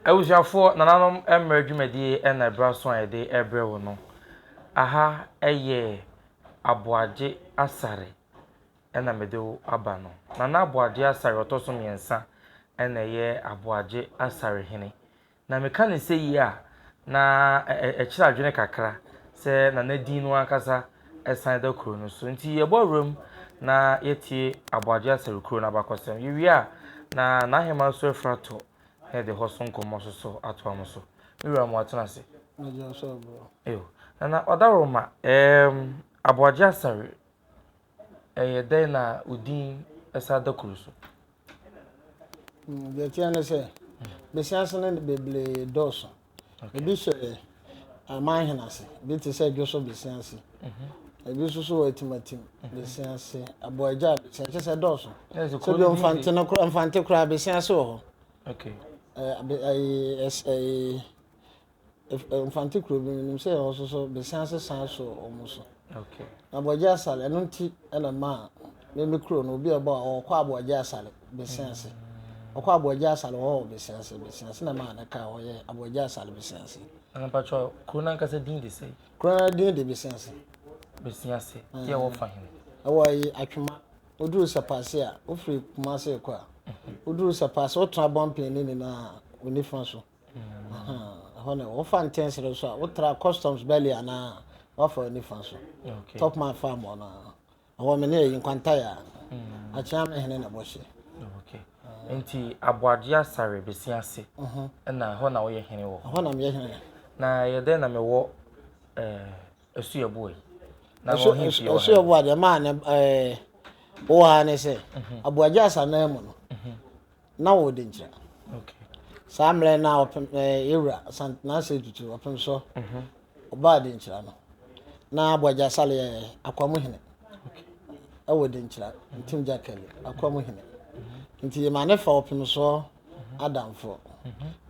Abusuafoɔ, nananom mmerɛ dwumadie na ɛberɛ aso a yɛde rebrɛ wo no. Aha yɛ Aboagye Asare na mede wo aba no. Nana Aboagye Asare ɔtɔ so mmiɛnsa na ɛyɛ Aboagye Asare hene. Na meka ne sɛyi a, na ɛkyerɛ adwene kakra sɛ Nana din no ankasa san da kuro no so. Nti yɛbɔ awura mu na yɛtie Aboagye Asare kuro no abakɔsɛm. Yɛwie a, na N'aheman Soɛfrato na yɛde hɔ so nkɔmmɔ so so atoa mo so. Me wura mo atena ase. Nagya nso aboro. Ew. Nana Ɔdaworoma, ɛɛm, Aboagye Asare, ɛyɛ dɛn na wo din ɛsa da kuru so? Mm, deɛ ɛteɛ ne sɛ, bɛsi ase no bebree dɔɔso. Ebi hyɛ amanhene ase, ebi te sɛ dwoso besia ase, ebi nso so wɔ atimatim besia ase, aboagya besia kyɛ sɛ dɔɔso. Sɛ bi mfante no kora mfante koraa besia ase wɔ hɔ. Okay. Ɛɛ ɛɛ mfante kuro bi nim sɛ ɛwɔ so so besia ase san so wɔn so. Aboagye Asare, ɛno nti na maa me me kuro no obi a ɔbɔ a ɔkɔ Aboagye Asare Besiase. Ɔkɔ Aboagye Asare hɔ wɔ Besiase, Besiase na maa ne kaa hɔ yɛ Aboagye Asare Besiase. Ɛna mpatsɔ kuro n'ankasa din de sɛ? Kuro no din de Besiase. Besiase, yɛ wɔ fa hene? Ɛwɔ ayi Atwema. Woduru Sapase a, wofiri Kumase rekɔ a, woduru Sapase, wotena Bɔnpɛn no nyinaa onifa so. Ɛhɔ na wɔfa ntɛnsere nso a wotra customs belly anaa wafa w'ani fa so top man farm hɔ no ɛhɔ me ne ɛyi nkwantayɛ a mm. akyea me hene na bɔhyɛ nti aboagye asare bɛsi ase mhm. na ɛhɔ na woyɛ hene wɔ hɔ na meyɛ hene na yɛ dɛn na mewɔ ɛsu yɛ boa yi na ɛsu yɛ boa deɛ maa ne wɔ ha ne sɛ mhm. aboagye asare no mu no mhm. na wɔwɔ denkyira saa mmerɛ na ɔpem ɛɛ ewura santenase tutu ɔpem so ɔbaa denkyira no na abɔgya sale yɛ akwamu hene ɛwɔ denkyira ntim gya kɛlɛ akwamu hene nti yɛ maa ne fa ɔpem so adamfoɔ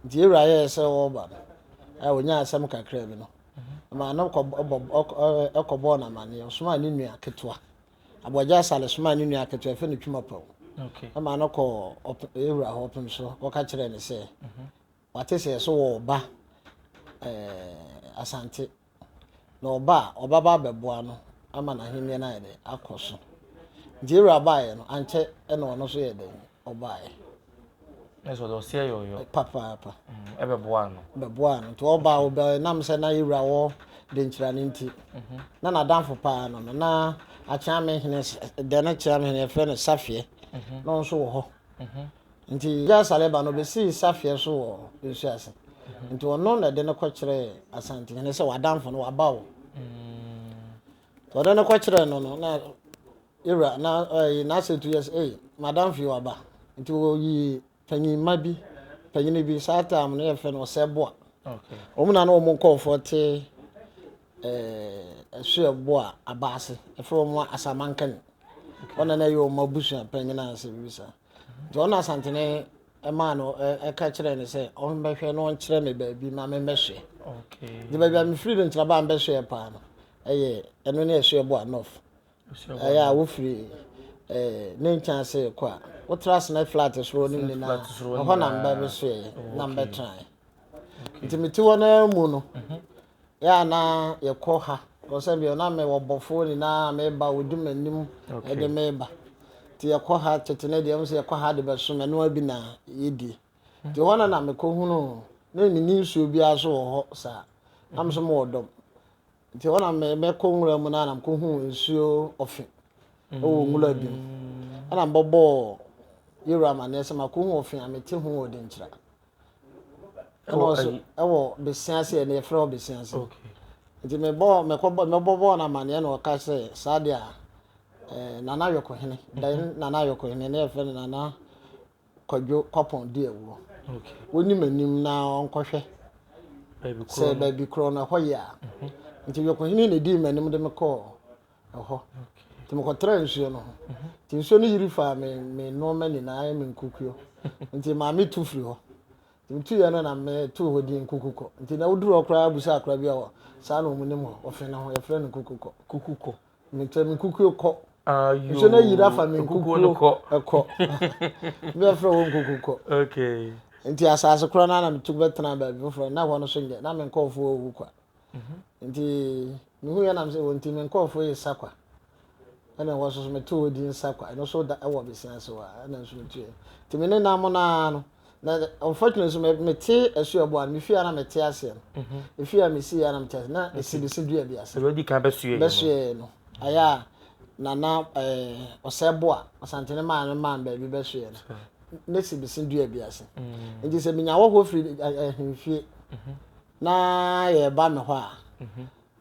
nti ewura yɛ sɛ ɔba no ɛɛ onyaa asɛm kakra bi no maa no kɔ ɔbɔ ɔkɔ ɛkɔ bɔɔ na ma ne ɔsomaa ne nua ketewa. Aboagye Asare somaa ne nua ketewa a wɔfrɛ no Twumapɔw maa no kɔɔ Ewura hɔ ɔpem so kɔka kyerɛɛ no sɛ mhm. wate sɛ so wɔ ɔba Asante na ɔba a ɔbɛba abɛboa no ama n'ahenni no ayɛ dɛ akɔ so. Nti Ewura baeɛ no ankyɛ na ɔno nso yɛ dɛn Ɔbaeɛ. Na sɛ ɔde ɔseɛ yɔɔyɔ. Papaapa. Ɛbɛboaa no. Ɛbɛboaa no. Nti ɔbaa hɔ bɛɛ nam sɛ na yɛwura wɔ Denkyira no nti. Na n'adamfo paa no no, na Akyeame hene dɛ na Akyeame hene yɛfrɛ no Safeɛ. Na ɔno nso wɔ hɔ. Nti Jah Saleba no ɔbɛsii Safeɛ so wɔ nsuo ase. Nti ɔno na ɛde no kɔkyerɛɛ Asantehene sɛ w'adamfo no waba o. Nti ɔde no kɔkyerɛɛ no no na. Ira na ɔyii n'asɛntu yɛ sɛ, Ei, m'adamfo yi waba. Nti wɔyii panyin mma bi, panyin bi, saa taam no yɛfrɛ no Ɔsɛeboa. Wɔn na na wɔn nkɔɔfoɔ te ɛɛ Ɛsoɛboa aba ase. Ɛfrɛ wɔn ma Asamankani. Wɔn na na ɛyɛ wɔn abusua panyin a sɛ biribi saa. Nti wɔn na Asantene ɛmaa no ɛka kyerɛɛ no sɛ ɔmmɛhwɛ na ɔnkyerɛ me baabi ma memmɛsoɛ. Nti baabi a mefiri no nti na baa mbɛsoɛ paa no ɛyɛ ɛno ne Ɛsoɛboa North. Ɛyɛ a wofiri ne nkyɛn ase rekɔ a, wotra sene flat soro no nyinaa. Ɛhɔ na mbɛbesoɛɛ na mbɛtrae. Nti mete hɔ no ara mu no, yɛ a na yɛkɔ ha kɔ sɛ bio na mewɔ bɔfoɔ nyinaa meba wɔdi m'anim de meba. Nti yɛkɔ ha tete no deɛ, sɛ yɛkɔ ha de bɛsom ɛno ara bi na yɛdie. Nti hɔ no na mekɔhunuu na menni nsuo biara so wɔ hɔ saa. Na me nso mewɔ dɔm. Nti hɔ na mɛkɔ nwura mu na na mekɔhu nsuo ɔfe wɔ nwura bi mu. Ɛna mbɔbɔɔ yɛwura amaneɛ sɛ makɔhu ɔfe a mete ho wɔ denkyira. Ɛna ɔso ɛwɔ besia ase ɛna yɛfrɛ hɔ besia ase. Nti mebɔɔ mɛkɔbɔ mɛbɔbɔɔ no amaneɛ na ɔka sɛ saa deɛ a eh, Nana Ayɔkohene, then Nana Ayɔkohene ne yɛfrɛ no Nana Kwadwo Kwapɔn di awuo. Ɔnim anim na ɔnkɔhwɛ sɛ baabi korɔ no ɛhɔ yɛ a. Nti Dwokohene na ɛdii m'anim de me kɔɔ ɛhɔ. Nti mekɔtraa nsuo no ho. Nti nsuo no yiri faa me me nnoɔma nyinaa ayɛ me nkukuo. Nti maame tu firi hɔ. Nti metuiɛ no na metuu hɔ din Kukukɔ. Nti na woduru hɔ koraa bisa akora bi a saa na wɔnim hɔ wɔ Fene ho, yɛfrɛ no Kukukɔ. Kukukɔ. Mekyɛ me nkukuo kɔ. Mehyɛ no ayiri afa me nkukuo kɔ. Mɛfrɛ wɔ nkuku kɔ. Nti asase korɔ no na metu bɛtena baabi foforɔ na hɔ no so nyɛ na me nkɔɔfoɔ ɔwu kwa. Mhm. Nti mehu yɛ nam sɛ wɔ nti me nkɔɔfoɔ yɛ sa kwa. Ɛna wɔ so so meto wɔ din sa kwa. Ɛno so da ɛwɔ besia ase wɔ a ɛna nso metu yɛ. Nti me ne nam no ara no Na unfortunately nso me mete asu ɛboa no me fie a na mete aseɛ no efie a mesi yɛ na mete aseɛ na esi besi dua bi ase ɛdi kan bɛsua yɛ bɛsua yɛ no ayɛ a nana ɛɛ ɔsɛ boa ɔsantene maa no maa baabi bɛsua yɛ no ne si besi dua bi ase nti sɛ menya wɔ hɔ firi ɛhemfie na yɛreba me hɔ a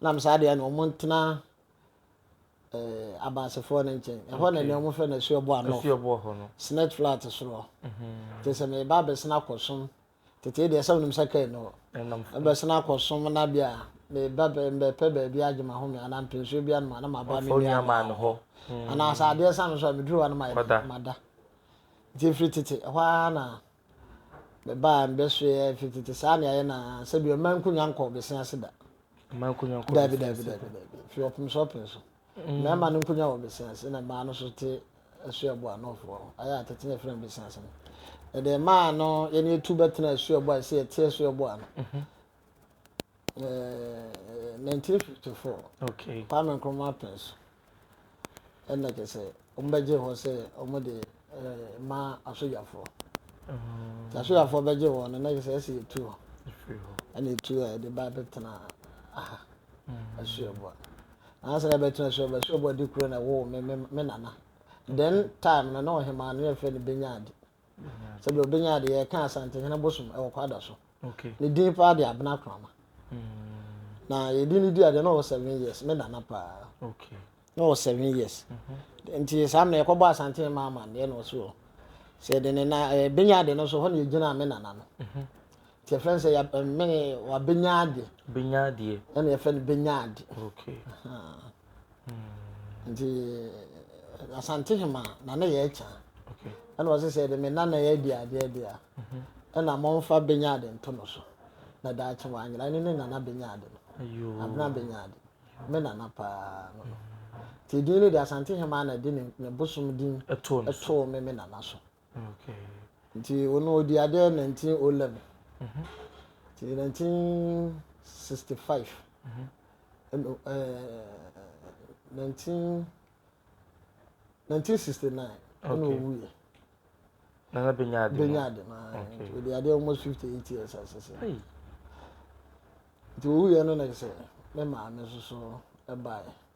Nam saa deɛ na wɔn ntena eh, abansefoɔ no nkyɛn. Ɛhɔ na nea wɔn fɛ no asuo boa no. Asuo boa hɔ no. Snake flat soro. Mhm. Te sɛ meba abɛsena kɔsom. Tete deɛ sɛ wɔnim sɛ kaa ni hɔ. Ɛnam fam. Ɛbɛsena kɔsom na bia meba bɛ mbɛpɛ baabi agye mahome anaa mpɛnsuo bi anom anaa maba me nua maa no hɔ. Anaasɛ adeɛ sa me so a meduru hɔ a na mayɛ dɛ mada. Nti ɛfiri tete ɛhɔ ara na. Mebaa mbrɛ so yɛ fi tsetse saa na yɛayɛ no aa, sɛ bi mma nkonwa nnkɔ ɔbesea ase da. Mma nkonwa nnkɔ ɔbesea ase da. Daabi, daabi, daabi, daabi. Fi ɔpem so ɔpem so. Mmarima no nkonwa wɔ ɔbesea ase, ɛna mmaa no nso te asuabu a Nɔɔfoɔ hɔ, ayɛ a tete na yɛfrɛ no besea ase no. Yɛde mmaa no, yɛne yɛtu bɛtena asuabu a ɛsɛ yɛte asuabu a no. ɛɛ nineteen fifty four okay kwame nkrumah pɛn so ɛna kyɛ sɛ wɔn bɛgye hɔ sɛ wɔn de ɛɛ ma asogyafoɔ mm. te asogyafoɔ bɛgye wɔn no na kyɛ sɛ ɛsɛ etu hɔ ɛna etu a yɛde ba abɛtena aha mm. asuaboa ansa na ɛbɛtena asuaboa asuaboa de kuro na ɛwɔ me me me nana then time na na ɔhemaa no yɛ fɛ no benya ade. sɛ deɛ ɔbɛnya adeɛ yɛka asantehene bosom ɛwɔ kwada so ne din paa de abena krama mm. na yɛde ne di adeɛ na ɔwɔ seven years me nana paa na ɔwɔ seven years mhm. nti saa mmerɛ yɛkɔbɔ asantehene ma ama deɛ na ɔso hɔ sɛ yɛde ne na eh, bɛnya adeɛ no so hɔ na yɛgyina me nana no mhm. nti yɛfrɛ no sɛ yɛmene eh, wabɛnya adeɛ ɛna yɛfrɛ no bɛnya adeɛ nti asante hema na ne yɛ kya ɛna ɔsɛ sɛ ɛde me nana yɛ adi adeɛ deɛ a ɛna mɔmfa bɛnya ade nto no so na daakye wanyera ne ne nana bɛnya ade no abena bɛnya ade me nana paa no no nti din no de asante hema na ɛde ne bosom din ɛtoo me me nana so nti ɔno ɔdi adeɛ 1911 nti 1965 ɛno ɛɛ 19 1969 ɛna ɔwuiɛ nana bɛnya ade bɛnya ade no ɔdi adeɛ almost 58 years asese nti ɔwuiɛ no na ɛsɛ me maame nso so ɛbaeɛ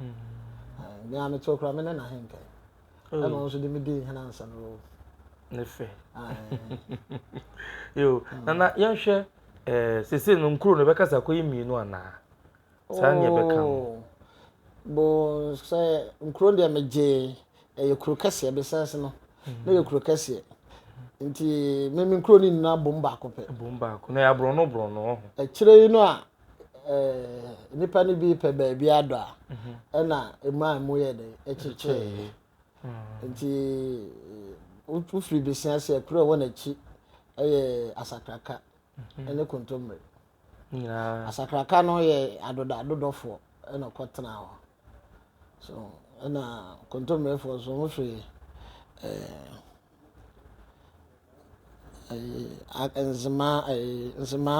Mm. Me a me to kora me ne na henka. Oh. Ɛna nso de me di hena nsa no ro. Ne fɛ. Yo, mm. nana yɛnhwɛ eh sese no nkuro no bɛkasa kɔ yi mmienu anaa. Saa ne yɛbɛka no. Oh. Bo sɛ nkuro deɛ megye ɛyɛ kuro kɛseɛ besɛnse no. Mm. Na yɛ kuro kɛseɛ. nti meme nkuro no nyinaa bom baako pɛ bom baako na yɛaborɔno borɔno ho akyire yi no a nnipa no bi pɛ baabi adɔ a mhm. ɛna ɛmu a ɛmu yɛ dɛn ɛkyekyɛɛ mhm. nti wofiri besia sɛ kuro ɛwɔ n'akyi ɛyɛ asakraka mhm. ɛne kontommire asakraka no yɛ adoda adodɔfoɔ ɛna ɔkɔtena hɔ So ɛna kontommefoɔ nso wɔhwɛ ɛɛ nzema ɛɛ nzema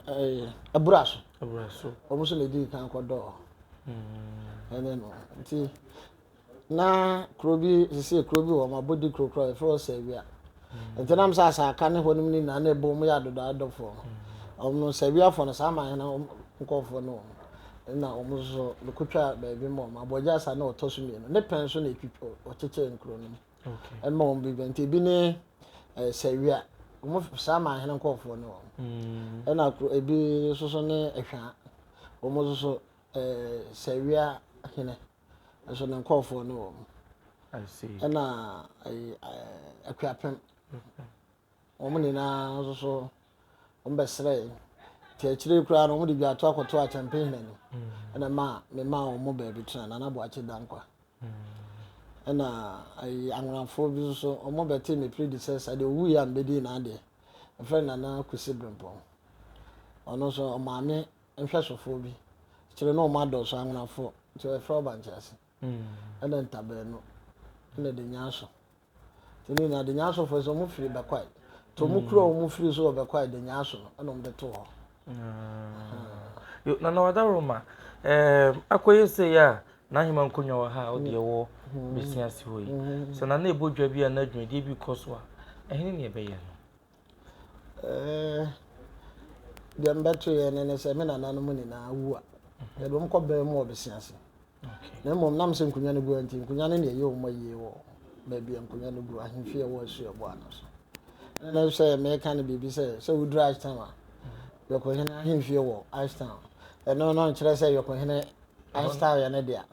ɛɛ abura so. Abura so. Wɔn nso na edi kan kɔ dɔɔ. Hmm. Ɛne no nti na kuro bi sisi kuro bi wɔ wɔn abodi kuro kuro a yɛfrɛ sɛ awia. Ntsi nam sɛ asɛaka ne hɔnom no nyina na ebɔmu yɛ adɔdɔadɔfoɔ no. Wɔnom no Serbiafoɔ no saa man no nkɔɔfoɔ ne wɔn na wɔn so so bɛkɔtwaa baabi ma wɔn. Aboagye asa ne ɔtɔ so mmienu ne pɛn so na ɔkyekyɛɛ nkuro no mu ma wɔn bi bɛ nti ebi ne Sɛwia wɔn saa man no nkɔɔfoɔ ne wɔn ɛna ebi so so ne Ɛhwaa wɔn so so Sɛwia hene. nso ne nkurɔfoɔ no wɔ mu ɛna ayi akuapem wɔn nyinaa nso so wɔn bɛsrɛɛ te akyire koraa no wɔn de dwato akɔto akyɛmpehene no ɛna mm. ma me maa wɔn mu baabi tena nana boakye dankwa mm. ɛna ayi anwonafoɔ bi nso wɔn bɛte me predecessor deɛ owu yɛ a mbɛdi n'adeɛ ɛfrɛ nana kusi brempɔn ɔno nso ɔmaame nhwɛsofoɔ bi kyerɛ na ɔmo adɔɔso anwonafoɔ nti ɔyɛ frɛ ɔbankyease ɛna ntabaa nu ɛna denyaso nti ne nyinaa denyasofoɔ sɛ ɔmo firi bɛkwae nti ɔmo kuro a ɔmo firi so wɔ bɛkwae denyaso no ɛna ɔmo de too hɔ. Nana Wadaroma ɛɛm akɔyɛ sɛ yɛ a n'ahema nkonnwa wɔ ha a ɔde ɛwɔ besia si hɔ yi sɛ nana ɛbɔ dwa bi anaa dwumadie bi kɔ so a ɛhene ne ɛbɛyɛ no. Eh, deɛ mbɛto yɛ ne ne sɛ me nananom nyinaa wu a yɛde wɔn kɔ bɛn mu wɔ bese ase na mmom nam sɛ nkonnwa no gu nti nkonnwa no na ɛyɛ wɔn ayie wɔ baabi a nkonnwa no gu ahemfi ɛwɔ asu ɛbɔ ano so na sɛ mɛka no biribi sɛ sɛ woduru ashton a yɔkɔhene ahemfie wɔ ashton ɛno no nkyerɛ sɛ yɔkɔhene ashton yɛ ne dea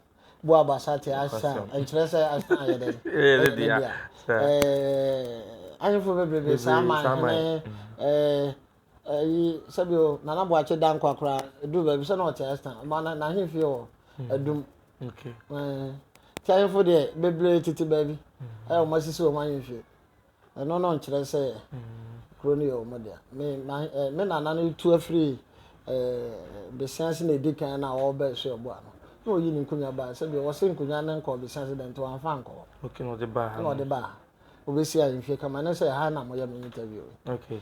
Bo Abasa te ase a, ɛnkyerɛ sɛ Arsenal yɛ dɛn? Ɛyɛ ne dea. Ahemfo bebrebe, saa man hene, ayi, sɛbi o, Nana Boakye Dankwa koraa, ɛduru baabi sɛ na ɔte Arsenal. Ma n'ahemfie wɔ Adum. Nti ahemfo deɛ, bebree tete baabi a wɔasisi wɔn ahemfie. Ɛno no nkyerɛ sɛ kuro no yɛ wɔn dea. Me ma eh, me nana no tu afiri eh, besiase na edi kan na ɔreba esu ɛbo ano. Na oyi ne nkunya baa sɛ deɛ wɔsi nkunya ne nkɔ besiase dɛ nti wɔanfa nkɔ hɔ. Okay, na ɔde baa ha. Na ɔde baa ha. Obesia mfie kama ne sɛ ha na mo yɛ me interview. Okay.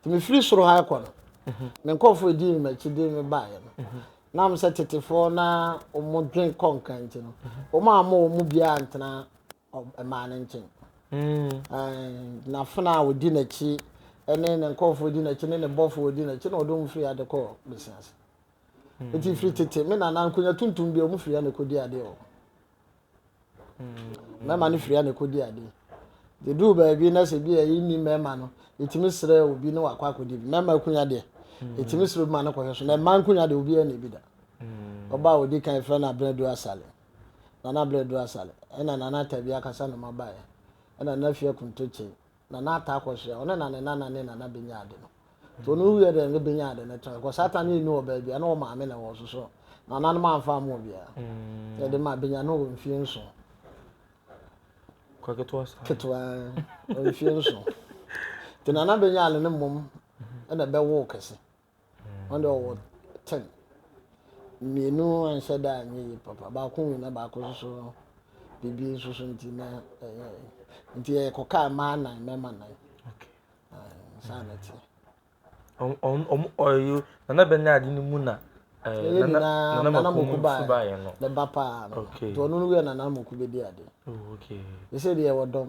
Nti mefiri soro ha rekɔ no, me nkurɔfoɔ a ɛdii me m'akyi de me baeɛ no, na wɔn sɛ tetefoɔ na wɔdwen kɔ nka nti no, wɔn a wɔn mu biara antena mmaa no nkyɛn. N'afena a wɔdi n'akyi ne ne nkurɔfoɔ wɔdi n'akyi ne ne bɔfoɔ wɔdi n'akyi na wɔde wɔn firi ha de kɔ besia ase. Nti firi tete me nana nkonya tuntum bi a wɔfiri ha na ɛkɔdi adeɛ wɔ hɔ. mmarima no firi a na ɛkɔdi ade yɛduru baabi na sɛ bi a ɛyi nni mmarima no yɛtumi serɛ obi ne wakɔ akɔdi bi mmarima akunya deɛ yɛtumi serɛ obi ma no kɔhwɛ so na mmaa nkunya deɛ obiara na ebi da ɔba a ɔdi kan fira no abena du asale nana abena du asale ɛna nana tabi akasa na ɔma baeɛ ɛna nana fia kuntokye Nana ataa akɔhyia ɔne na ne nana ne nana benya ade no nti ɔno wiɛ dɛ ne benya ade no tɔn kɔ saa ta no yɛ ni wɔ baabi a na wɔn maame na ɛwɔ so so nananom anfa ama obiara mm. yɛde ma benya no wɔ mfie nso kwa ketewa saa ketewa wɔ mfie nso nti nana benya ade no mmom ɛna ɛbɛwo kɛse Ɔno deɛ ɔwɔ ten. Mmienu anhyɛ da anyɛ yie papa. Baako wui na baako nso so no, biribi nso so nti na ɛyɛ. Nti yɛkɔkaa mmaa nan, mmarima nan. Saa na ɛteɛ. Nana bɛ ne ade no mu na eh, nana makomu nso baeɛ no. Ne ba paa no. Nti ɔno no wia nana makomu bɛdi ade. Ɛsɛ oh, deɛ wɔ dɔm.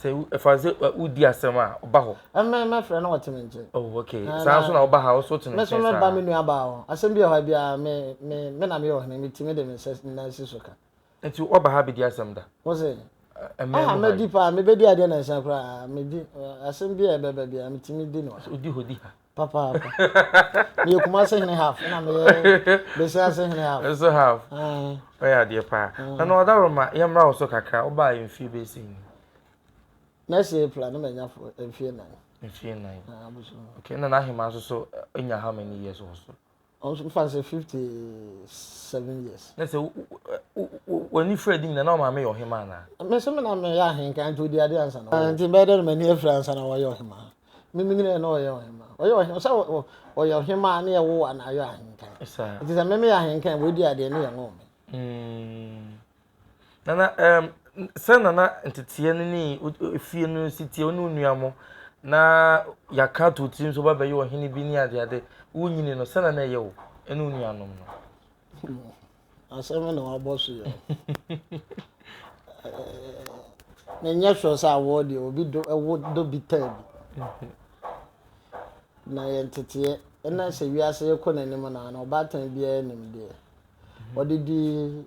Sɛ ɛfa sɛ wodi asɛm a, ɔba hɔ. Ɛmɛ mɛfrɛ na ɔte me nkyɛn. Oh okay. Saa nso na ɔba ha nso te ne nkyɛn saa. Me nso mɛba me nua baa hɔ. Asɛm bi wɔ ha biara me me me na meyɛ ɔhene me ti me de me nsa nyinaa si so ka. Nti waba ha abɛdi asɛm da? Wo se? Ɛmɛ mu ha yi. Mɛdi paa mebɛdi adeɛ nansa koraa medi asɛm bi a ɛbɛba biara metumi di no. Odi hɔ di ha. Papaapa. Meyɛ Kumase hene half na meyɛ Besiase hene half. Nso half. Ɔyɛ adeɛ paa. Na na ɔdaworo ma yɛmmra wo so kakra wobaa yɛ mfie bɛyɛ sɛ ni. Next April na manya fo mfie nan. Mfie nan. Ah, bosom. Okay, na n'ahemaa nso so nya how many years wɔ so? Ɔfa no sɛ fifty seven years. Na sɛ w'ani fura anim na na ɔmaame yɛ ɔhemaa anaa? Me so me na meyɛ ahenkan nti ɔdi adeɛ ansa na ɔyɛ. Nti bɛyɛ dɛ na m'ani afura ansa na wɔyɛ ɔhemaa. Me menyinɛɛ na ɔyɛ ɔhemaa. Ɔyɛ ɔhemaa sɛ ɔyɛ ɔhemaa ne yɛwo wo a na ayɔ ahenkan. Nti sɛ me meyɛ ahenkan a w'adi adeɛ ne yɛnwoo me. Nana, ɛɛm, sɛ nana nteteɛ no ne efie no si teɛ wo ne wo nua mo na yɛaka to tirim so bɛbɛyɛ ɔhene bi ne adeade wonyini no sɛ nana ɛyɛ wo ne wo nuanom no asɛm na wabɔ so yɛ menyɛ sure sɛ awɔ deɛ obi do ɛwo do bi taa bi na yɛ nteteɛ ɛna sɛ wiase kɔ n'anim na na ɔbaatan biara nim deɛ ɔde di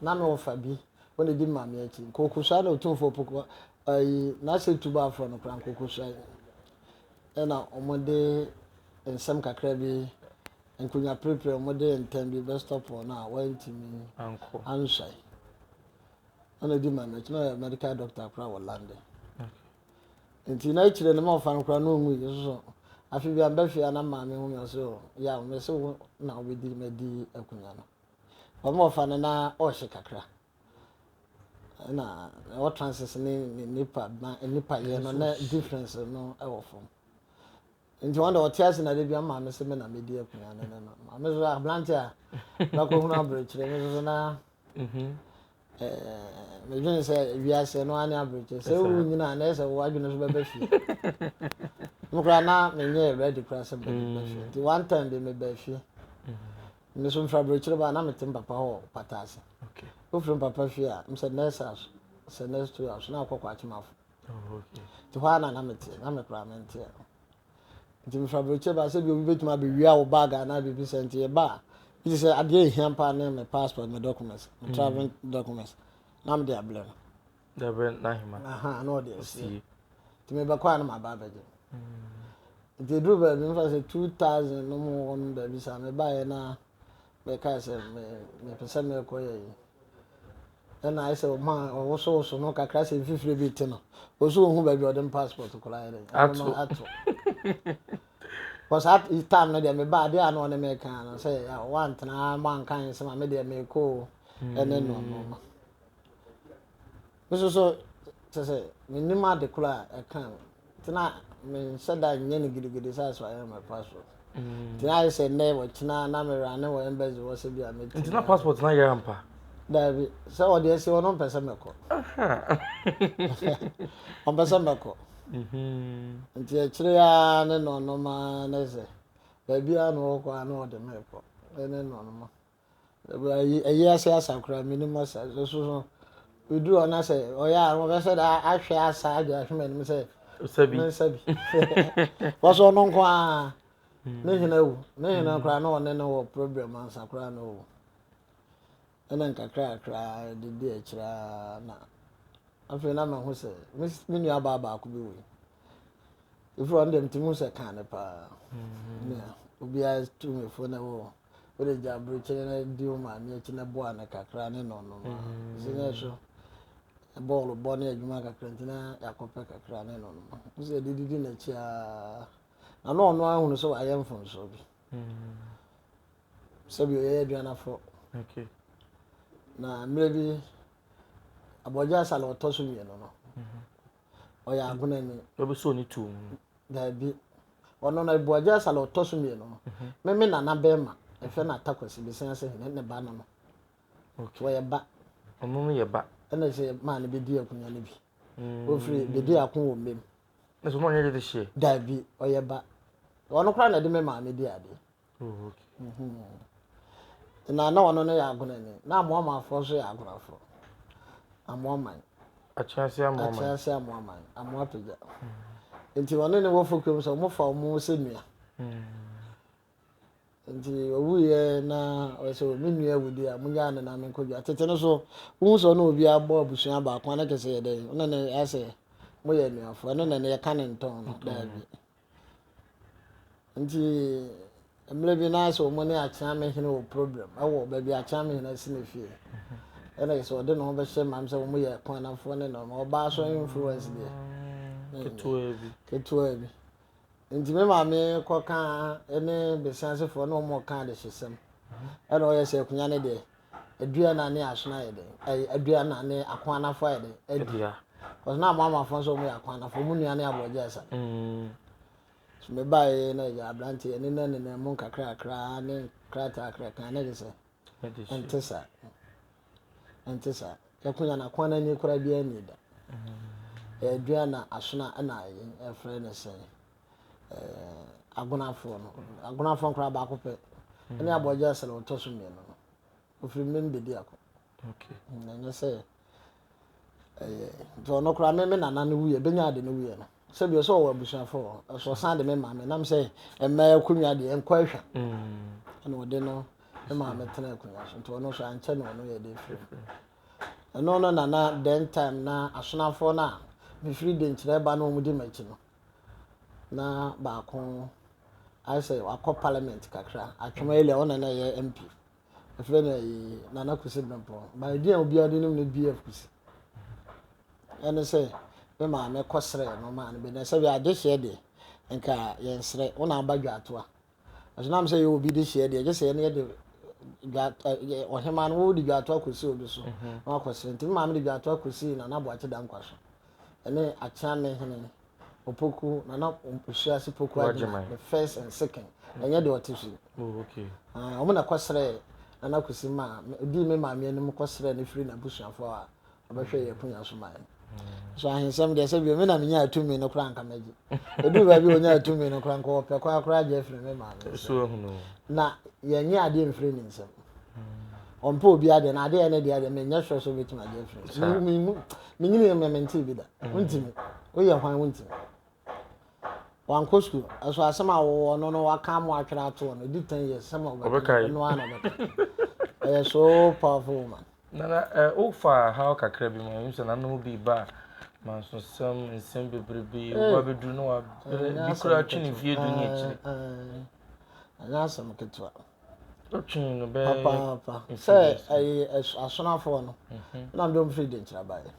Na me wɔfa bi, wo na edi ma me akyi. Nkokosoa na Otumfoɔ Poko ayi n'asɛ tuba afrɛ no koraa nkokosoa yi. Ɛna wɔde nsɛm kakra bi, nkonyaprepre, wɔde ntɛm bi bɛ stop wɔn a wɔantumi anhwɛ. Ɛna edi ma me akyi, na ɔyɛ medical doctor koraa wɔ London. Nti na akyire no me wɔfa no koraa na ongui nso so. Afe bi a mbɛ fie a na maame hu me ɔse o, yaw mese wo na wobedi m'adi akunya no. Wɔn a wɔfa no na ɔrehye kakra. Ɛna ɛwɔ trances ne ne nipa ma nipa yɛ no na difference no ɛwɔ fam. Nti wɔn de ɔte ase na de bi ama me sɛ me na me di akonnwa no ne no. Maame so aberante a na kɔhunu aberekyerɛ me so na medwene sɛ wiase no ane aberɛkyɛ sɛ wowu nyina a na ɛsɛ wo adwene so bɛbɛ fie no koraa na menyɛ ready koraa sɛ bɛbɛ mm. fie nti one time bi mebɛɛ fie mm-hmm. meso mfiri aberɛkyerɛ baa na mete mpapa hɔ pata ase wofiri mpapa fie a mesɛ nurse house sɛ nurse two house na akɔkɔ akyemafo oh, nti hɔ a na na meteɛ na mekoraa menteɛ Ntsi mfa brɛkyɛ ba sɛ bi a obi betumi abewia wo bag anaa biribi sɛ ntsi yɛba a, bi tse sɛ adeɛ a ehia paa ne me passport, me documents, me travelling documents na mede abrɛ no. De abrɛ Nahima. Ahaa, na ɔde asie. Ntsi mebɛkɔ a na maba abɛgye no. Ntsi eduruu baabi, mfa sɛ two thousand no mu hɔ no baabi saa, mebaeɛ na mekae sɛ me mepɛ sɛ mekɔyɛ Nna ayɛ sɛ ɔmaa ɔwosowoso no kakra sɛ mfifire bi te no. Ɔso ɔhu baabi ɔde me passport koraa yɛ dɛ. Ato. Ato. Because at time no deɛ mebaa adeɛ a na ɔne me kan no sɛ wantena mo anka nsɛm a me deɛ mekɔ o ɛne no no. Me nso so, kyerɛ sɛ, mennim ade koro a ɛka no. Nti na menhyɛ da nyɛ no gidigidi sɛ asɔre na mɛfa so. Mm. Nti na ayɛ sɛ nnɛ wɔkyena na merane wɔ embassy hɔ sɛ bi a mɛtumi. Nti na passport na yɛ ampa? Daabi, sɛ ɔde asi hɔ no ɔmpɛ sɛ mɛkɔ. Ɔmpɛ sɛ mɛkɔ. Mm-hmm. Nti akyire a ne nɔnɔma ne sɛ, baabiara na ɔkɔ a na ɔde mekɔ. Ne nɔnɔma. Ewiase asa koraa mennim asa nso so bɛduru hɔ na sɛ ɔyɛ a wɔbɛsɛ dɛ ahwɛ asa adwe ahwe m'anim sɛ mensa bi wɔsɛ ɔno nko a hmm. ne hena wu ne hena hmm. koraa na ɔne no wɔ problem ansa koraa na ɔwu ɛna nkakra koraa de di akyirɛ na afei na mahu sɛ me nua baa baako bi wei ɛfiri ɔno deɛ metumi hu sɛ kaa ne paa hmm. nea obiara tu me fo na wɔ wode gya aburokyire no di wo maame akyi na boa no kakra ne no no ma sɛ ne ɛhwɛ bɔɔl bɔ ne adwuma kakra nti na yɛakɔpɛ kakra ne no no ma sɛ de didi n'akyi a na na ɔno ahunu sɛ wayɛ mfomsoɔ bi sɛbi ɔyɛ aduanafo na mmerɛ bi abɔgya asale ɔtɔ so mmienu no ɔyɛ agonani. Ebi so ne tuo mu. Daabi. Ɔno na Abu Agyasa la ɔtɔ so mmienu no. Mhm. Me me nana bɛrima, ɛfɛ na Atakwasi bɛsɛn ase hene ne ba no no. Okay. Wɔyɛ ba. Ɔno no yɛ ba. Ɛna sɛ maa no bɛdi akonnwa no bi. Mm. Ofiri bɛdi ako wɔ mmam. Nso mo ɔnyɛ de de hyeɛ. Daabi, ɔyɛ ba. Ɔno koraa na ɛde me maame di adeɛ. Na na ɔno no yɛ agonani, na Amoamanfoɔ nso yɛ agonafoɔ. Amoaman. Akyɛnse Amoaman. Akyɛnse Amoaman. Amoapagya. Nti ɔne ne wɔfo kurom sɛ wɔfa wɔn sɛ nua. Nti ɔwuiɛ na ɔyɛ sɛ wɔn nua wudi a monyɛ ano na menkɔdwa. Tete no so, wohu sɛ ɔne obi abɔ abusua baako a na kyɛ sɛ yɛ dɛn? Ɔne ne ayɛ sɛ moyɛ anuafoɔ. Ɛno na yɛka ne ntɔn no. Daabi. Nti mmerɛ bi na sɛ wɔn ne Akyeame hene wɔ problem ɛwɔ baabi Akyeame hene asi ne fie ɛna sɛ ɔde ne ho bɛhyɛ mam sɛ wɔn yɛ kɔnafoɔ ne nɔɔma ɔbaa so influence deɛ ketewa bi ketewa bi nti me maame kɔka ne besia asefoɔ na wɔn ɔka adehyesɛm ɛna ɔyɛ sɛ akunya ne deɛ Adua na ne asono ayɛ dɛn? Ɛy, adua na ne ako anafo ayɛ dɛn? Adi. Adua. Because na mo amafo nso wɔn yɛ ako anafo, wɔn nua ne aborɔgye asa. Mm. So me ba yɛ na yɛ aberante yɛ ne nɛ ne nɛ mo kakra kakra ne krataa kakra kan ne de sɛ. Adi so. Ɛnte saa. Ɛnte saa. Yɛ ko yɛ na kwan ani kora bi ani da. Mm. Adua na asono ɛna yɛ ɛfrɛ ne sɛn. eh, agonafoɔ no agonafoɔ nkoraa baako pɛ ɛne mm. abɔgya sɛ na ɔtɔ so mmienu no ɔfiri mmem bɛdi ako mm, ɛnyɛ sɛ ɛyɛ nti ɔno koraa me me nana no wuyɛ bɛnya ade no wuyɛ no sɛ bi ɔsɛ ɔwɔ abusuafoɔ ɛsɛ ɔsan de me maame nam sɛ mmaa akonnwa deɛ nkɔ ahwa mm. ɛna ɔde no me maame tena akonnwa so nti ɔno nso ankyɛ na ɔno yɛ de firi mu ɛno no nana then time na asonafoɔ no a mefiri de nkyerɛ ba no ɔmudi m'akyi no na baako ayɛ sɛ wakɔ parliament kakra atwom ayɛ lɛ ɔna na ɛyɛ mp ɛfrɛ no ɛyi nana kusi bɛmpɔ ba ɛdi a obiara de nim no bf kusi ɛne sɛ me maame kɔ srɛ no maa no bi na sɛ bi adehyeɛ deɛ nka yɛn srɛ wo na aba dwa atoa Nanso na sɛ yɛwɔ obi dehyeɛ deɛ, gye sɛ yɛne yɛde ɔhemaa no wode dwaato akɔsi obi so mhm. na wakɔsere. Nti me maame de dwaato akɔsi Nana Boakye Dankwa so ɛne Akyeame hene Opoku Nana Osuase Poku Agyeman the first and second mhm. ɛnyɛ deɛ ɔte so yi. Oh, ah, wɔn na kɔsrɛ Nana Kwesi ma ɔdii me maame anim kɔsrɛ no firi n'abusuafoɔ a ɔbɛhwɛ yɛn akunya so ma yɛn so ahensɛm deɛ sɛ bi me na menya atumi no koraa nka magye ɛduru baabi a ɔnya atumi no koraa nka ɔpɛ koraa koraa gye afiri me maame na yɛnyɛ adeɛ mfiri ne nsɛm ɔmpɛ obi adeɛ na adeɛ ne deɛ adeɛ menyɛ sure sɛ ɔbɛtumi agye afiri menyini yɛ mmemente bi da wontimi woyɛ hwan wontimi Wankɔ sukuu. Ɛso asɛm a wɔwɔ ɔno no waka ama atwerɛ ato hɔ no ɛdi ten years sɛm a ɔbɛka no ɔno ara na ɔbɛka. Ɔyɛ so powerful woman. Nana ɛ wofa haw kakra bi ma mehu sɛ nana wo bi ba mansosɛm nsɛm bebrebe woba bɛduru na wabrɛ bi koraa twe ne vie du ne akyire. Ɛnyɛ asɛm ketewa. Wotwee no bɛyɛ mfe abiɛsa. Papaapa. Sɛ ɛyi ɛs asonafoɔ no, na mede wɔn firi Denkyira baeɛ.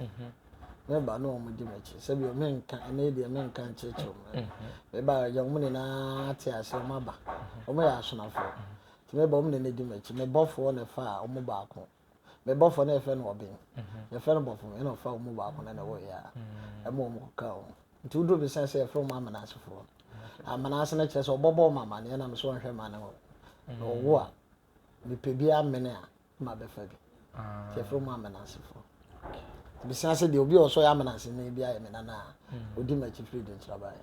Meba na wɔn di m'akyi. Sɛ bio menka, ɛnnɛ yi deɛ menka nkyerɛkyerɛ wɔn mmerɛ. Meba a ɛgya wɔn nyinaa te aseɛ, wɔn aba. Wɔn yɛ asonafoɔ. Nti meba wɔn na na di m'akyi. Me bɔfoɔ na ɛfaa wɔn baako. me bɔfo na yɛfrɛ no ɔben yɛfrɛ no bɔfo ɛna ɔfa wɔn mu baako na na ɛwɔ yɛ a ɛma wɔn kɔka wɔn nti woduro bi san sɛ yɛfrɛ wɔn amanasefoɔ amanase no kyerɛ sɛ ɔbɔbɔ wɔn amaneɛ na mesɛ ɔnhwɛ ma ne hɔ na ɔwo a mepɛ bi amene a ma bɛfa bi nti yɛfrɛ wɔn amanasefoɔ mesia sɛ deɛ obi a ɔsɔ yɛ amanase no bi ayɛ me nana a ɔdi m'akyi firi de nkyerɛbaeɛ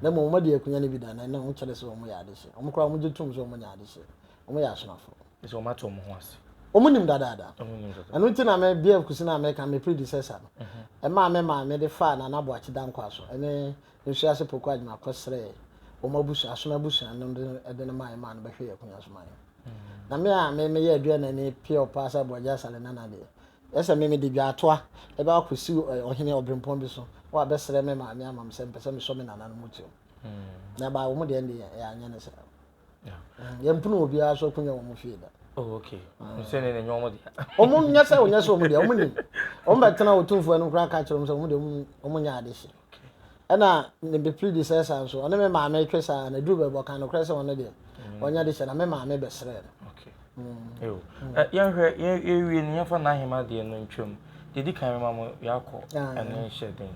na mmom wɔde akunya no bi da na ɛna wɔkyerɛ sɛ wɔn yɛ adehye wɔn koraa wɔn gye tom sɛ wɔn nyɛ adehye wɔn yɛ asonafoɔ Ɛsɛ wɔn ate wɔn ho ase. Wɔn nim dadaada. Wɔn nim dadaada. Ɛno nti na me BF Kusin a meka me predecessor no, ɛmaa me maa me de faa Nana Boakye Dankwah so ɛne Nsuase Poku Agyemang kɔ srɛɛ wɔn abusua, asom abusua no de ɛde no mae maa no bɛhwɛɛ Akunya so maa yɛn. Na me a me meyɛ aduanani pure paa sɛ Aboagye Asare Nana deɛ, yɛ sɛ me mede dwaatoa ɛbɛ akɔ si Ɔhene Ɔbrempɔn bi so wɔ abɛsrɛ me maame ama me sɛ mpɛ sɛ mesɔ me Nana no mu tirim. Na ɛbaa wɔn deɛ ɛnde yɛn yɛanyɛ no saa. yɛmpene obiara so akunya wɔn fie da oh, okay sɛ ne nyɛ wɔn deɛ wɔn nyɛ sɛ wɔn nyɛ sɛ wɔn deɛ wɔn nim wɔn bɛ tena otumfoɔ anim koraa ka kyerɛ wɔn sɛ wɔn deɛ wɔn nyɛ ade hye ɛna ne de pili de sɛ saa nso ɔne me maame twe saa na duru bɛbɔ kan no korɛ sɛ wɔn deɛ wɔn nyɛ de hyɛ na me maame bɛsrɛ no Yɛnhwɛ, yɛwie no, yɛmfa n'ahema deɛ no ntwam. Deɛ di kan mɛma mo yɛakɔ ɛne nhyɛ den.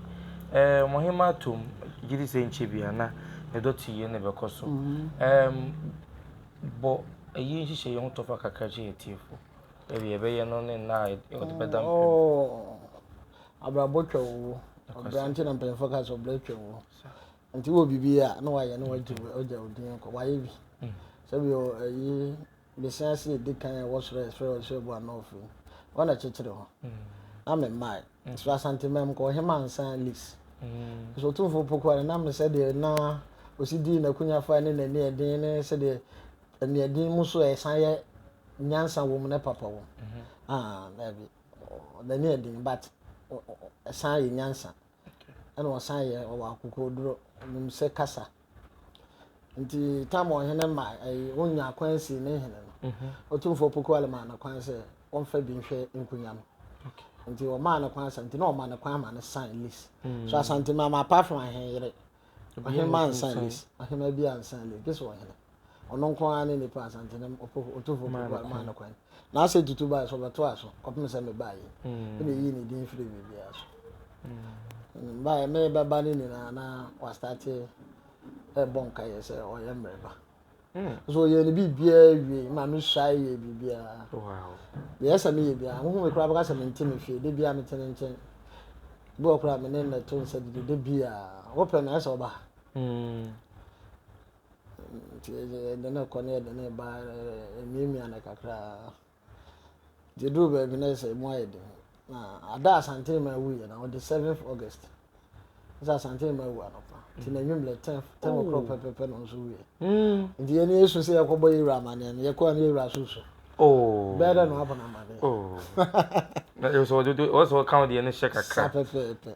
Ɛɛ mo hema atom, gye di sɛ nkyɛ bia na ne dɔte yie no bɛkɔ so. Ɛɛm bɔ ɛyi nhyehyɛ yɛ ho tɔfa kakra kyerɛ yɛ tiefo. Ɛbi yɛbɛyɛ no ne nna a ɔde bɛda mpem. Ɔɔ abrabɔ twa owuo. Ɔbra nti na mpanyinfoɔ ka sɛ ɔbra twa owuo. Nti wɔ biribi a na wayɛ na wagye wagya wo din kɔ wayɛ bi sɛbi ɛyi besia ase edi kan a wɔsrɛ srɛ ɔsrɛ bu anɔfo yi wɔn na kyekyere ho na me mmae so asante mɛm kɔ ɔhema nsan lis so tumfo poko ara na me sɛ deɛ na osi di n'akunya fa ne n'ani ɛden ne sɛ deɛ ɛni ɛden mu so ɛsan yɛ nyansa wɔ mu ne papa wɔ mu ah ɛbi n'ani ɛden but ɛsan yɛ nyansa. ɛna ɔsan yɛ ɔwɔ akokoduro nim sɛ kasa nti tam ɔhene ma ɛyi eh, wonya kwan si ne hene no mhm. ɔtumfoɔ pokuale maa no kwan sɛ ɔmfa bi nhwɛ nkonya no nti ɔmaa no kwan sɛ nti na ɔma no kwan ma no san list mm. so asante mama apart from ahene yere Ɔhene ma nsa lis. Ɔhene bi ansa lis. Gye sɛ ɔhene. Ɔno nko ara ne nipa asantene ɔtofo pokuwa maa no kwan. Na asɛ tutu baa so ɔbɛto aso kɔpem sɛ mebaa yi. Ɛna ɛyii ne din firi biribiara so. Baa ɛmɛ bɛba no nyinaa na wastate ɛbɔ nkaeɛ sɛ ɔyɛ mmerɛba. So ɔyɛɛ ne biribiara wiei ma mesuae yɛɛ biribiara. Deɛ ɛsɛ sɛ meyɛ biara, wohu me koraa bɛka sɛ mente me fie, da biara mete ne nkyɛn. Bi wɔ koraa me ne no to nsa didi da biara, wopɛ no a ɛsɛ sɛ ɔba ha. Nti ɛde no kɔ ne ɛde no ba, ɛmiamia no kakra. Nti ɛduru baabi na sɛ ɛmu ayɛ den. Na ada Asante Mmaa wuiɛ na ɔde seventh August sɛ Asante Mmaa wu anɔpa nti na anwummerɛ ten ten oh. o'clock pɛpɛpɛ na nso wuiɛ. Hmm. Nti yɛn ni esu sɛ yɛkɔbɔ yɛ wura amaneɛ no yɛkɔ ano yɛ wura susu. Oh. Bɛyɛ dɛ na wabɔ n'amaneɛ. Oh. Na yɛ sɛ ɔde ɔsɛ ɔka ɔdeɛ no hyɛ kakra. Sa pɛpɛɛpɛ.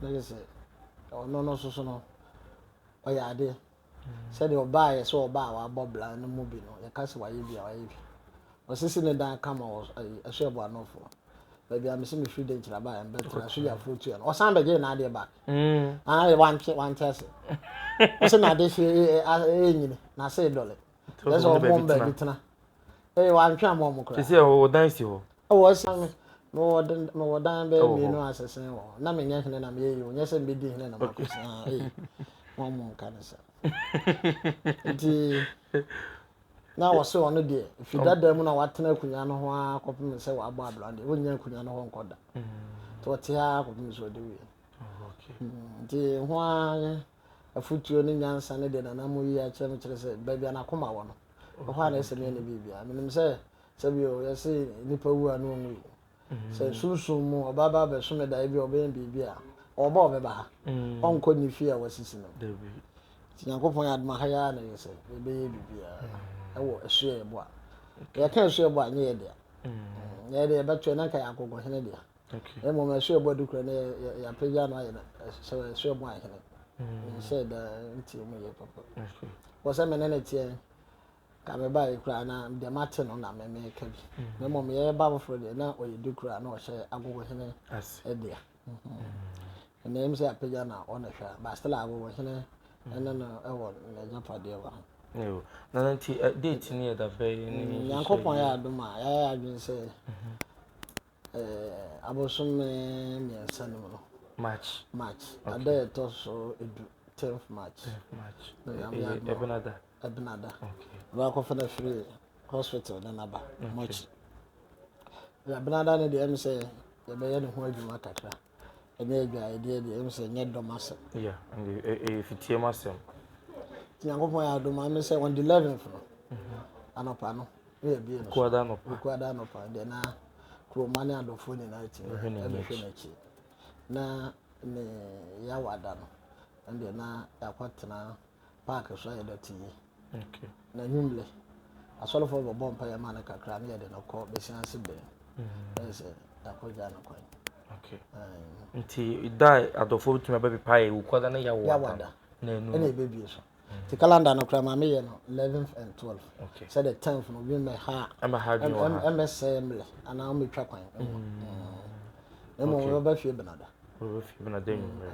na kyerɛ sɛ ɔno no nso so no ɔyɛ ade sɛdeɛ ɔbaa yɛ sɛ ɔbaa a wabɔ bra no mu bi no yɛka sɛ wayɛ bi a wayɛ bi ɔsisi ne dan ka ma ɛso ɛbɔ anɔfo baabi a mesi mefiri de nkyerɛ baa mbɛtena so yɛ afuro tua no ɔsan bɛgye n'adeɛ back mm. ah, wante wante ase ɔsɛ n'ade hye ɛnyini n'ase dɔle That's all mom baby tena. Eh, wa antwa mom mo kra. Sisi e wo dan si ho. E wo si me. Me wo dan me wo dan be mi no asesen wo. Na me nya hene na me yi wo. Nya se me di hene na makosi. Ah, eh. Mom mom ka ne sa. Nti na wo se ono de fi dada mu na watena akunya no ho a kopem se wa bɔ abla de. Wo nya akunya no ho nkoda. To te a kopem so de wi. Okay. Nti ho a Afotuo ne nyansa ne deɛ Nana Mo yi akyerɛ no kyerɛ sɛ baabi a n'akoma wɔ no, ɛhɔ a na ɛsɛ meɛ ne biribiara. Menim sɛ sɛbi o, yɛse nipa wu a na ɔnwui. Sɛ sunsum mu ɔba ba abɛso me daeɛ bi a ɔbɛyɛ biribi a, ɔɔba a ɔbɛba ha. Ɔnkɔ nni fie a wasisi no. Nti Nyankopɔn yɛ adom a ha yi ara na ɛyɛ sɛ yɛbɛyɛ biribiara ɛwɔ ɛso yɛ yɛboa. Yɛka ɛso yɛboa a ɛnyɛ yɛdea. Nyɛ yɛde yɛbɛtoɛ na nka ɛyɛ agogo hene dea. Mmom ɛso ɛbɔ de kura no yɛ apagya no ayɛ no sɛ ɛso ɛbɔ ahene nhyɛ mm. da nti mu yɛ papa wɔ sɛ mene ne teɛ ka me ba kura na deɛ mate no na meme ka bi na mmom yɛyɛ ba foforɔ deɛ na ɔyɛ de kura na ɔhyɛ agogo hene ɛdeɛ ɛnna ɛmu sɛ apagya na ɔna hwɛ ba still agogo hene ɛne no ɛwɔ n'agyapadeɛ wɔ ho na nti eh, date ne yɛ da bɛyɛ ne nyankopɔn yɛ adom a yɛayɛ adwene sɛ mhm. Abosome mmiɛnsa no mu no. March. March. Okay. Ada a ɛtɔ so edu tenth March. Tenth March. Ɛbɛnada. Ɛbɛnada. Okay. Ɛbɛakɔfa no afiri hospital na naba. March. Ɛbɛnada no deɛ ɛm sɛ yɛbɛyɛ ne ho adwuma kakra. Ɛnyɛ adwaredeɛ deɛ, ɛmu sɛ ɛnyɛ dɔm asɛm. Yeah, and ɛyɛ fitiam asɛm. Nti Nyankopɔn yɛ adom ano sɛ on the 11th no, mhm. anɔpa no, ne yɛ bie no. Kuada anɔpa. Kuada anɔpa, deɛ na kuroma ne adɔfoɔ nyinaa ti no, ɛbɛhwɛ n'akyi. Na ne yawada no, ɛndeɛ na yɛakɔtena paaki so a yɛdɔte yi. N'anwummerɛ, asɔrefoɔ no bɛbɔ mpaeɛ ma no kakra na yɛde no kɔ bɛsia ase bɛn bɛyɛ mm. sɛ yɛakɔgya no kwan. Nti da adɔfoɔ bɛtumi abɛpepaeɛ wo kɔda no yɛwada ɛna ɛbɛbie so nti calendar no koraa ma meyɛ no 11th and 12 okay. sɛ the 10th no bi mmɛha ɛmmɛsɛe mmerɛ anaa mmɛtwa kwan mmɔ mmom yɛbɛhwɛ bɛnada Wofi Benada anwummere.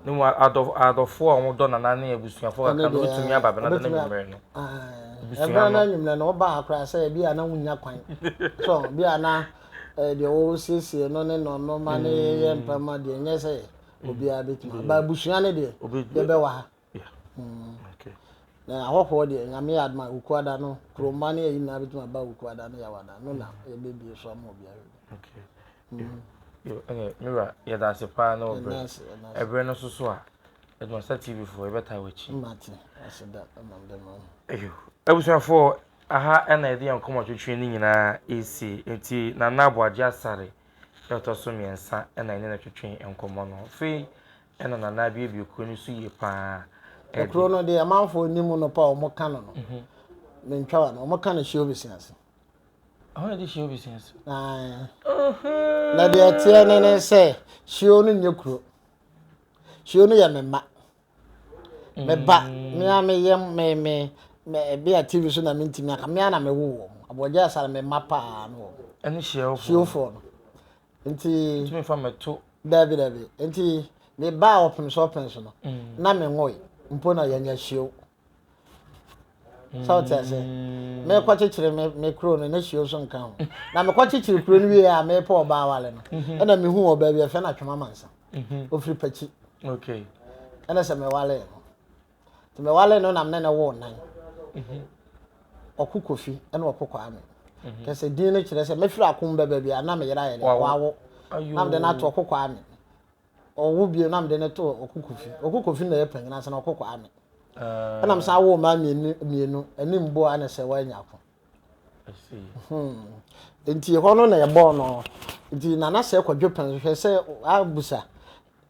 Ne mu adɔfoɔ a wɔdɔ nana ne abusuafoɔ kakra no wotumi aba Benada no anwummere no. Ɛbɛn no anwummere no wɔba ha koraa sɛ ebi a na wonya kwan. So bi a na deɛ wɔresiesie no ne nɔnɔma ne yɛyɛ mpɛma deɛ nyɛ sɛ obiara bɛtumi. Ba abusua no deɛ yɛbɛwɔ ha. Na ahɔhoɔ deɛ nyame yɛ adoma Wukuada no kuromma ne ayi nyinaa bɛtumi aba Wukuada ne Yawada no na yɛbɛbie so ama obi ahwɛ bi. Ɛnɛ mewura yɛda ase paa na ɔbrɛ ɛbrɛ no soso a ɛduma sa TV foɔ yɛbɛtaa w'akyi. Mate ase da ɛma mde ma no. Eyo abusuafoɔ aha ɛna yɛde yɛn nkɔmɔ twetwe ne nyinaa ɛsi nti Nana Aboagye Asare ɛtɔ so mmiɛnsa ɛna ɛne no twetwe nkɔmɔ no fei Ɛna Nana abiebie kuro no so yie paa de. Ekuro no deɛ amanfoɔ nim no pa wɔn ka no no mentwa wa no wɔn ka no hyia obesi ase. Ɛhɔ na ɛde hyia obesi ase. Ae na deɛ ɛteɛ ne ne sɛ hyio no nyɛ kuro hyio no yɛ me mma me ba me a me yam me me me ɛbi a tv so na me ntumi aka me a na me wo wɔn abɔgya asara me mma paa no wɔn. Ɛne hyio foɔ no. Nti. Ntumi fa mɛto. Daabi daabi. Nti me baa ɔpem so ɔpem so no. Mm. Na me nwoe mpo na yɛnya hyio. Mm. Sɛ ɔte ase. Me kɔ kyekyere me me kuro no na hyio nso nka ho. Na me kɔ kyekyere kuro no wie a me pɔ ɔbaa wale no. Mhm. Ɛna me hu ɔbaa bi ɛfɛ na twema mansa. Mhm. Ofiri pakyi. Okay. Ɛna sɛ me wale no. nti mewale no na me ne no woo nan mhm. ɔko kofi ɛna ɔko kwame mhm. kɛsɛ din no kyerɛ sɛ mɛfiri akom bɛ baabi a na meyera yɛ dɛ wawo na mede no ato ɔko kwame ɔwo bio na mede no to ɔko kofi ɔko kofi na yɛ panyin ase na ɔko kwame ah. ɛna mesan woo mmaa mmienu mmienu ɛne mbo ana sɛ wɔanya ako hmm. nti hɔ no na yɛbɔɔ no nti nana sɛ kɔdwe pɛn hwɛ sɛ abusa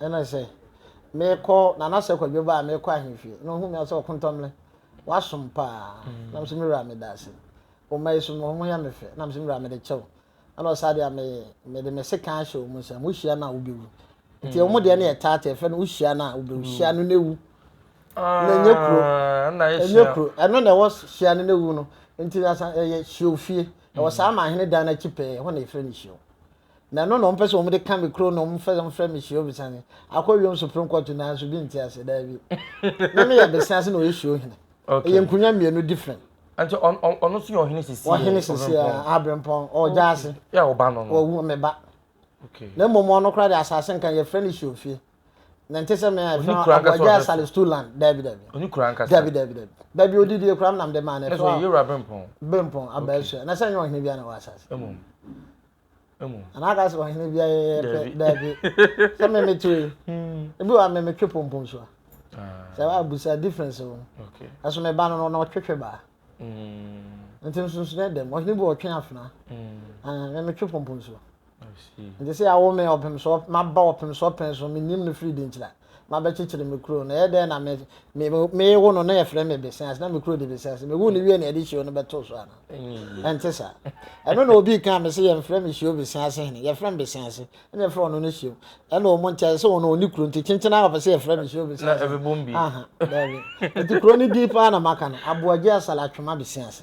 Ɛna sɛ, Meekɔ, Nana sɛ Kwadwo ba a meekɔ ahemfie, na ɔhuu me a sɛ Ɔkontomire, w'asom paa. Na mese, Me wura meda ase. Wo mma yi so no, wɔyɛ me fɛ. Na mese, Me wura mede kyɛ wo. Ɛna ɔse, Saa deɛ a, me, mede me sekan ahyɛ wɔn nsam. Wohyia no a, wobɛwu. Nti wɔn deɛ no yɛ taata, yɛfrɛ no wohyia no a, wobɛwu. Hyia no na wu. Na ɛnyɛ kuro. Ɛnyɛ kuro. Ɛno na ɛwɔ hyia no na wu no. Nti na ɛyɛ hyeofie. Ɛwɔ saa ama ahene dan no akyi pɛɛ, ɛhɔ na yɛfrɛ no hyiew. Na ɛno na wɔpɛ sɛ wɔde ka me kuro no, wɔmfa mfrɛ me Suo Besane. Akɔ wiem Supreme Court nanso bi nte ase, daabi. Me meyɛ Besease na ɔyɛ Suo Hene. Ɛyɛ nkonwa mmienu different. Nti ɔno nso yɛ ɔhene sisi. Ɔhene sisi a Abrempɔn ɔgya ase. Yɛ ɔba no no. Ɔwu me ba. Na mmom ɔno koraa de asase nka yɛfrɛ no Suofie. Na nte sɛ me a yɛfrɛ no Abuagya Sale Stool Land. Daabi daabi. Ɔni kura nkasa. Daabi daabi daabi. Baabi ɔdidie koraa menam de maa no. Ɛso ɔyɛ Yewura Brempɔn. Brempɔn Abaasua. Na sɛ nyɛ ɔhene bi a na wɔ asase. Mmom. anaaka sɛ ɔhene bi ayɛyɛ pɛ daabi sɛ me meto yi hmm. ebi wa me metwe pompom so a ah. sɛ abusa difference wɔ ɛso me ba no no na ɔtwetwe baa hmm. nti nsonson yɛ dɛm ɔhene bi ɔtwe afena hmm. ah, me metwe pompom so nti sɛ awo me ɔpem so maba ɔpem so ɔpɛn so menim no firi de nkyira mabɛkyekyere me kuro no, ɛyɛ dɛn na me, me, mewo no na yɛfrɛ me Besease na me kuro de Besease. Mewu no wie na yɛde hyio no bɛto so ana? Mm. Ɛnte saa. Ɛno na obi kan me sɛ yɛmfrɛ me hyio Besease hene, yɛfrɛ me Besease ɛna yɛfrɛ ɔno no hyio. Ɛna ɔmo nti ayɛ sɛ ɔno ɔni kuro nti kyenkyen ara ɔpɛ sɛ yɛfrɛ me hyio Besease. Na ɛbɛbom bi. Aha, daabi. Nti kuro no din paa na maka no, Aboagye Asala Atwema Besease.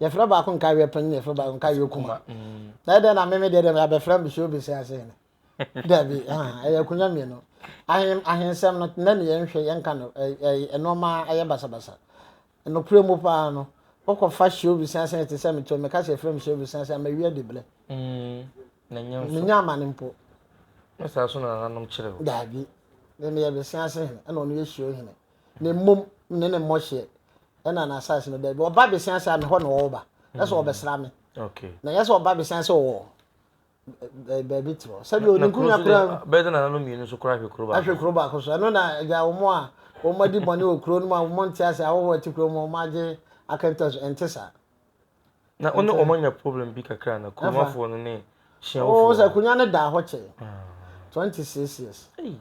Yɛfrɛ baako nkaeɛ panyin, yɛfrɛ baako nkaeɛ kuma. Na ɛdɛn na meme deɛ deɛ abɛfrɛ me show bese ase ne. Dabi, ɛyɛ akunya mmienu. Ahen ahensɛm no na ne yɛnhwɛ yɛnka no nneɛma ɛyɛ basabasa. Nokorɛ mu paa no, wokɔfa show bese ase te sɛ meto meka sɛ ɛfrɛ me show bese ase a mawie adi blɛ. Menya amane mpo. Ɛsaa so na nananom kyerɛ o. Dabi, meme yɛ bese ase hene, ɛna ɔno yɛ show hene. Na mmom ne ne mmɔhyeɛ ɛna n'asaase no daabi ɔba bɛsia sɛ amehɔ na ɔwɔ ba ɛsɛ ɔbɛsra me na yɛsɛ ɔba bɛsia sɛ ɔwɔ baabi terɔ sɛbi oninkunu kura bɛyɛ sɛ nananom mmienu nso kura ahwɛ kuro baako ahwɛ kuro baako so ɛno na agya wɔn a wɔn adi bɔne wɔ kuro no mu a wɔn nte ase ahohoɔ ɛte kuro mu wɔn agye akɛntɛ so ɛnte saa na ɔne wɔn anya problem bi kakra na kuromafoɔ no ne hyiawofoɔ wɔn sɛ akonnwa no daa hɔ kyɛ ah. twenty six years. Hey.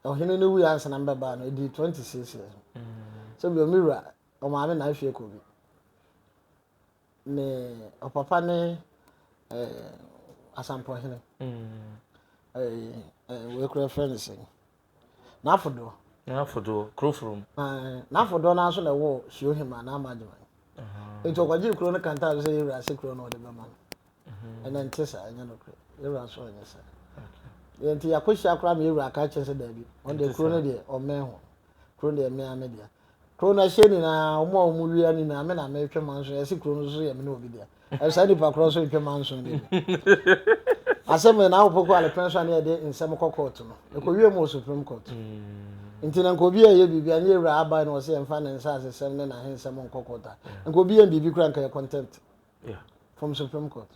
Ɔhene no wui ansa na mebɛbaa no, ɛdii twenty six years. Sɛ bio, me wura, ɔmaame na ahwie kɔ bi. Ne ɔpapa ne eh, asampɔhene. Eh, eh, wei kura fɛ ne sɛ. N'afodoɔ. N'afodoɔ, kurofurum. Eh, n'afodoɔ no nso na ɛwɔ Suohima na Amagyeman. Nti ɔkɔgyee kuro no kantaa sɛ yɛwura ase kuro no ɔde bɛma no. Ɛnɛ nte saa, ɛnyɛ nokorɛ. Yɛwura nso anyɛ saa. Deɛ nti yɛakɔhyia koraa ma yɛwura aka akyerɛ sɛ daabi, ɔno deɛ kuro no deɛ ɔmmɛn ho. Kuro no deɛ mmea me dea. Kuro no ɛhyɛ nyinaa, wɔn a wɔn wia nyinaa, me na metwe manso, yɛse kuro no nso yɛ me ne obi dea. Ɛyɛ saa nipa korɔ nso ntwe manso ne bi. Asɛm yɛ na awopoko alepɛn so a ne yɛde nsɛm kɔ kɔɔto no. Ɛkɔwie mu wɔ Supreme Court. Nti na nka obi ɛyɛ biribi a ne yɛwura aban no ɔse yɛmfa ne nsaasesɛm ne n'ahensɛm nkɔ kɔɔto a, nka obi yɛn biribi koraa nka yɛ contempt. Yeah. From Supreme Court.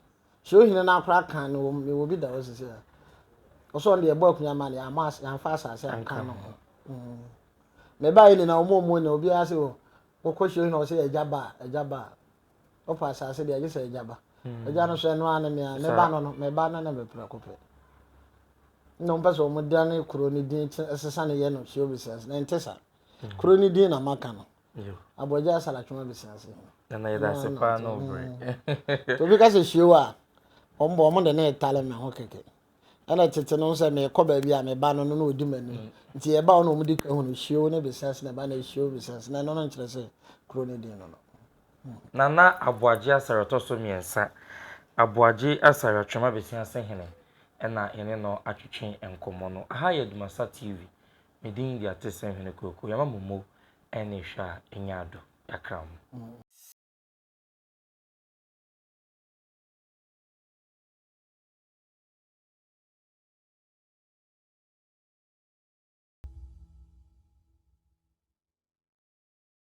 So hene no akora kan no wɔn mewɔ bi da hɔ sisi a. Ɔsɛ ɔno deɛ ɛbɔ akunya ma no yɛn ama yɛn afa asase anka no ho. Mm. Na ɛbaa yɛ nyinaa wɔn wɔn na obiara sɛ wɔ wɔkɔ so hene ɔsɛ ɛgya ba ɛgya ba ɔfa asase deɛ ɛgye sɛ ɛgya ba. Ɛgya hmm. no so ɛno ano mea ne ba no no mɛ ba no na mɛ pira kɔpɛ. Na wɔn pɛ sɛ wɔn dan ne kuro ne din ɛsesa ne yɛ no so obi sɛ na ɛnte saa. Hmm. Kuro ne din na maka no. Yo. Abɔgya asalatwe abɛsi ase. Na na yɛda ase paa na ɔbere. Mm. Obi ka sɛ hyieo a, wɔn bɔ wɔn de na ɛtale me ho kɛkɛ. Ɛna tete no sɛ mekɔ baabi a meba no no na ɔdi m'anim. Mm. Nti yɛba hɔ na wɔn di ka hunu hyieo ne bɛsi ase na ɛba na hyieo bɛsi ase na ɛno no nkyerɛ sɛ kuro no din no no. Mm. Na na aboagye asare tɔ so mmiɛnsa. Aboagye asare atwem abɛsi ase hene ɛna yɛne no atwetwe nkɔmmɔ no. Aha yɛ Dumasa TV. Me din de Atesɛm Hene Kweku Yama Momo ɛne hwɛ a ɛnya ado kakra mo.